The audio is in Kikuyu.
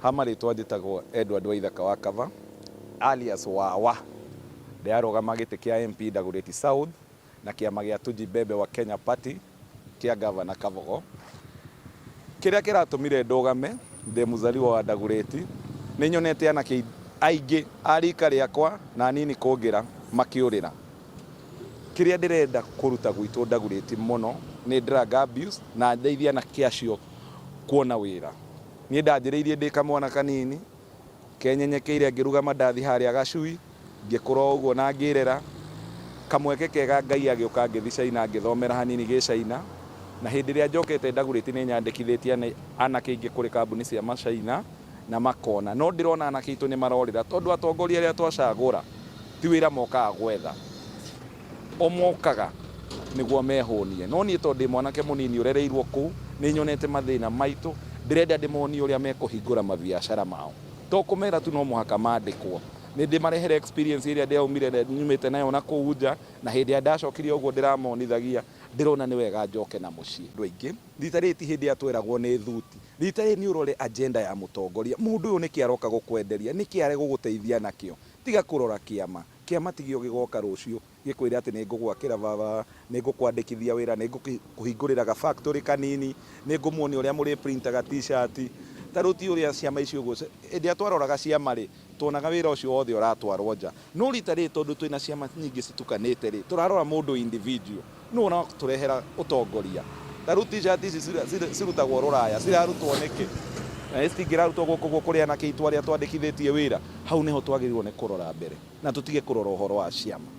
Ha marĩtwa njĩtagwo Edward Waithaka wa Kava alias Wawa. Ndĩarũgama gĩtĩ kĩa MP Dagoretti South na kĩama gĩa Tujibebe wa Kenya Party kĩa Ngavana Kavogo. Kĩrĩa kĩratũmire ndũgame ndĩ Mzaliwa wa Dagoretti, nĩ nyonete anake aingĩ a rika rĩakwa na anini kũngĩra makĩũrĩra. Kĩrĩa ndĩrenda kũruta gwitũ Dagoretti mũno nĩ drug abuse na ndeithie anake acio kuona wĩra. Niĩ ndanjĩrĩirie ndĩ kamwana kanini, kenyenyekeire ngĩruga mandathi harĩa Gacui, ngĩkũra o ũguo na ngĩĩrera. Kamweke kega Ngai agĩũka ngĩthi China ngĩthomera hanini Gĩchina, na hĩndĩ ĩrĩa njokete Dagoretti nĩ nyandĩkithĩtie nĩ anake aingĩ kũrĩ kambuni cia Machina na makona. No ndĩrona anake aitũ nĩ marorĩra tondũ atongoria arĩa twacagũra ti wĩra mokaga gwetha. O mokaga nĩguo mehũnie. No niĩ tondũ ndĩ mwanake mũnini ũrereirũo kũu, nĩ nyonete mathĩna maitũ. Ndĩrenda ndĩmonie ũrĩa mekũhingũra mabiacara mao. To kũmera tu no mũhaka mandĩkwo. Nĩ ndĩmarehere experience ĩrĩa ndĩaumire nyumĩte nayo na kũu nja, na hĩndĩ ĩrĩa ndacokirie ũguo ndĩramonithagia, ndĩrona nĩ wega njoke na mũciĩ. Andũ aingĩ. Rita rĩrĩ ti hĩndĩ ĩrĩa tweragwo nĩ thuti. Rita rĩrĩ nĩ ũrore agenda ya mũtongoria. Mũndũ ũyũ nĩkĩ aroka gũkwenderia? Nĩkĩ aregũgũteithia nakĩo? Tiga kũrora kĩama. Kĩa matigio gĩgooka rũciũ, gĩkwĩre atĩ, 'Nĩ ngũgwakĩra baba, nĩ ngũkwandĩkithia wĩra, nĩ ngũkũhingũrĩra ga factory kanini, nĩ ngũmuonia ũrĩa mũrĩ printaga T-shirt. Ta rĩu ti ũrĩa ciama ici ũguo, hĩndĩ ĩrĩa twaroraga ciama-rĩ, tuonaga wĩra ũcio wothe ũratwarwo nja. No rita rĩrĩ tondũ twĩna ciama nyingĩ citukanĩte-rĩ, tũrarora mũndũ individual. Nũ ũratũrehera ũtongoria? Ta rĩu t-shirt ici cirutagwo rũraya cirarutwo nĩkĩ? Na ici citingĩrarutwo gũkũ gwitũ kũrĩ anake aitũ arĩa twandĩkithĩtie wĩra? Hau nĩho twagĩrĩirwo nĩ kũrora mbere na tũtige kũrora ũhoro wa ciama.